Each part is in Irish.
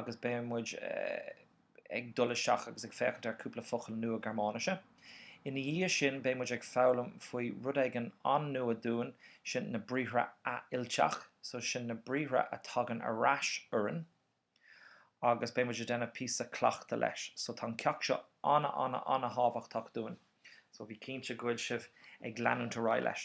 agus beidh muid ag dul isteach agus ag féachaint ar cúpla focal nua Gearmáinise. Ina dhiaidh sin beidh muid ag foghlaim faoi rud éigin an-nua dúinn, sin na briathra athfhillteach, so sin na briathra a tagann ar ais orainn agus beidh muid ag déanamh píosa cleachta leis. So tá an ceacht seo an-an-an-thábhachtach dúinn, so bí cinnte go bhfuil sibh ag leanúint ar aghaidh leis.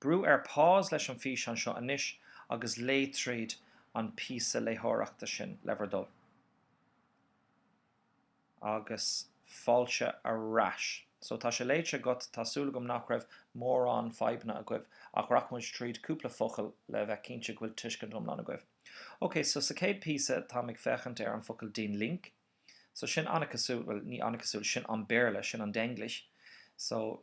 Brú ar pause leis an físeán seo anois agus léigh tríd an píosa léitheoireachta sin le bhur dtoil. Agus fáilte ar ais. So, tá sé léite agat, tá súil agam nach raibh mórán fadhbanna agaibh, ach rachaidh muid tríd cúpla focal le bheith cinnte go bhfuil tuiscint iomlán agaibh. Ok, so sa chéad píosa táim ag féachaint ar an focal den Link. So, sin an-cosúil, bhuel, ní an-cosúil, sin an Béarla, sin an Denglisch. So.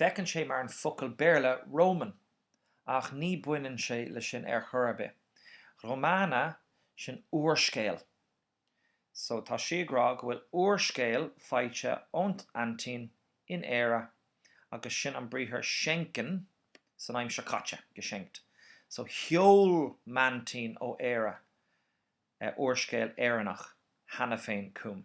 Féachann sé mar an focal Béarla Roman, ach ní baineann sé le sin ar chor ar bith. Romane, sin úrscéal. So, tá sí ag rá go bhfuil úrscéal faighte ón aintín in Éire agus sin an briathar schenken san aimsir caite, geschenkt. So, sheol m'aintín ó Éire úrscéal Éireannach cheana féin chugam.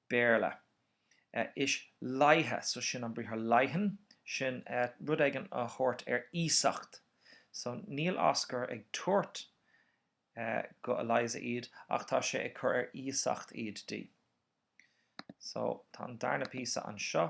Béarla. Ich leihe, so sin an briathar leihen, sin rud éigin a thabhairt ar iasacht. So níl Oscar ag tabhairt go Eliza iad ach tá sé ag cur ar iasacht iad di. So tá an darna píosa anseo.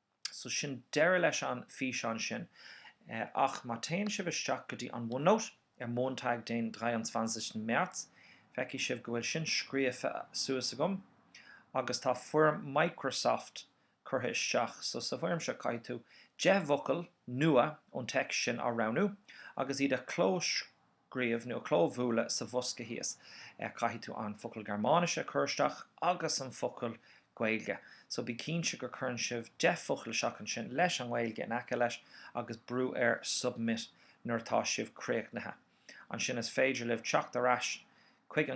So sin deireadh leis an físeán sin. Ach má téann sibh isteach go dtí an OneNote ar Montag den 23. März, feicfidh sibh go bhfuil sin scríofa suas agam. Agus tá foirm Microsoft curtha isteach. So sa bhfoirm seo caithfidh tú 10 bhfocal nua ón text sin á roghnú agus iad a chlós críobh nó a clóbhualadh sa bhosca thíos. Caithfidh tú an focal Gearmáinise a chur isteach agus an focal Gaeilge. So bí cinnte gur chuireann sibh 10 focal isteach ansin leis an nGaeilge in aice leis agus brú ar Submit nuair atá sibh críochnaithe. Ansin is féidir libh teacht ar ais chuig